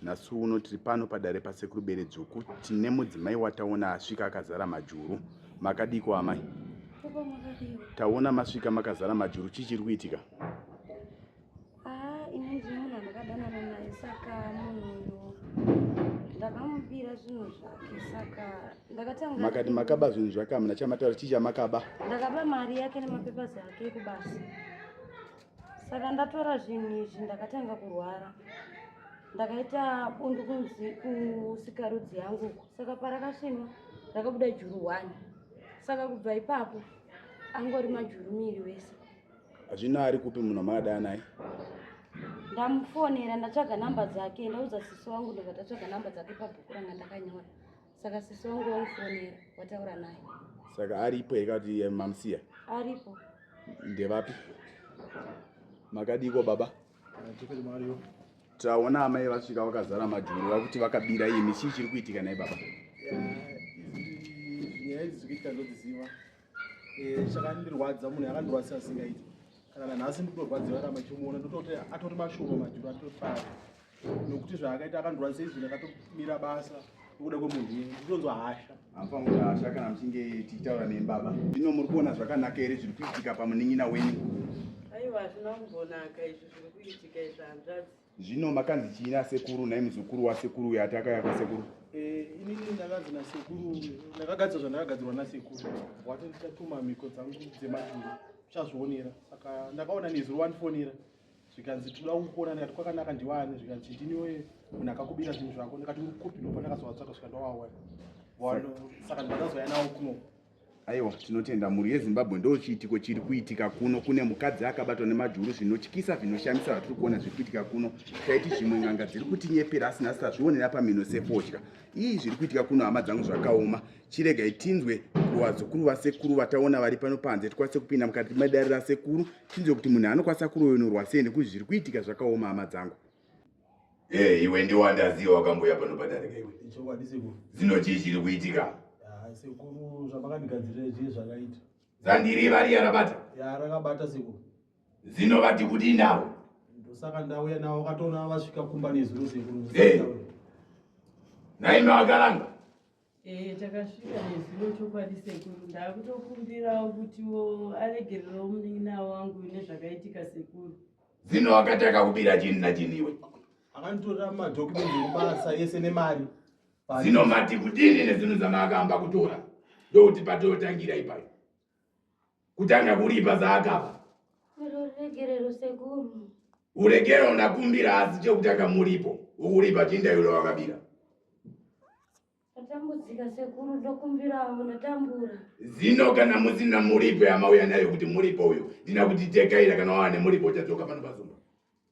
Nhasi uno tiri pano padare pasekuru Beredzvuku tine mudzimai wataona asvika akazara majuru. Makadiko amai? Taona masvika makazara majuru chii chiri kuitika? Ah, ini ndiri munhu andakadanana naye saka munhu uyu ndakamubira zvinhu zvake saka ndakatanga Makati makaba zvinhu zvake hamuna chamataura chii chamakaba? Ndakaba mari yake nemapepers ake ekubasa. saka ndatora zvinhu izvi ndakatanga kurwara ndakaita bundu kunzi kusikarudzi yangu uko saka parakasvinwa rakabuda juru one saka kubva ipapo angori majuru miri wese hazvina ari kupi munhu amaadaya naye ndamufonera ndatsvaga namba dzake ndaudza sisi wangu ndobva tatsvaga namba dzake pabhuku ranga ndakanyora saka sisi wangu wamufonera wataura naye saka aripo here kati eh, mamusiya aripo ndevapi makadiiko baba taona amai vasvika vakazara majuru vakuti vakabira imi chii chiri kuitika naye baba nyaya idzi dzikuitika ndodziziva Eh, chakandirwadza munhu yakandirwadzisa asingaiti kana nanhasi nditorwadziwa rama chimuona ndototi atori mashoma majuru atotofara nokuti zvaakaita akandirwadzisa izvi ndakatomira basa nokuda kwemunhu iye nditonzwa hasha amufanira hasha kana muchinge tichitaura nembaba zvino muri kuona zvakanaka here zviri kuitika pamunin'ina wenyu aiwa hazvina kumbonaka izvi zviri kuitika izvi hanzvadzi Zvino makanzi chii nasekuru nhai muzukuru wasekuru uyo ati akauya kwasekuru? Eh, inini ndakanzi nasekuru ndakagadzira zvandakagadzirwa nasekuru wati ndichatuma mhiko dzangu dzemajuru uchazvionera saka ndakaona nezuro wandifonera zvikanzi tinoda kukuona ndikati kwakanaka ndiwani zvikanzi chitiniwe munhu akakubira zvinhu zvako ndikati uri kupi ndopa ndakazovatsvaka svika ndowawana saka ndakazouya nawo kuno Aiwa, tinotenda mhuri yeZimbabwe ndo chiitiko chiri kuitika kuno. Kune mukadzi akabatwa nemajuru zvinotyisa zvinoshamisa zvatiri kuona zviri kuitika kuno. Taiti zvimwe n'anga dziri kutinyepera asi nhasi tazvionera pamhino sefodya. Ii zviri kuitika kuno hama dzangu zvakaoma. Chiregai tinzwe kuvazukuru vasekuru vataona vari pano panze tikwanise kupinda mukati medare rasekuru tinzwe kuti munhu anokwanisa kuroyonorwa sei nekuti zviri kuitika zvakaoma hama dzangu. Hey, eh, iwe ndiwe andaziva wakamboya pano padarika iwe. Ichokwadi sekuru. Zino chii chiri kuitika? Ah, sekuru zvamakandigadzirira zvii zvakaita. Zandiri vari yarabata? Ya rakabata sekuru. Zino vati kuti nawo. Ndosaka ndauya nawo wakatoona vasvika kumba nezuro sekuru. Hey. Eh. Naime wakaranga. Ehe takasvika nezuro chokwadi sekuru ndakutokumbirawo kutiwo aregererewo munin'ina wangu nezvakaitika sekuru. Zino wakati akakubira chini nachini iwe? Akanditorera madokumenti ekubasa yese nemari. Zino mati kudini nezvinhu zvamaakamba kutora ndokuti patotangira ipayo. kutanga kuripa zvaakapa ruregerero sekuru uregerero ndakumbira asi chekutanga muripo wokuripa chindairo wakabira ndatambudzika sekuru ndokumbirawo ndatambura zino kana musina muripo yamauya nayo kuti muripo uyo ndina kutitekaira kana wava nemuripo uchadzoka pano pazumba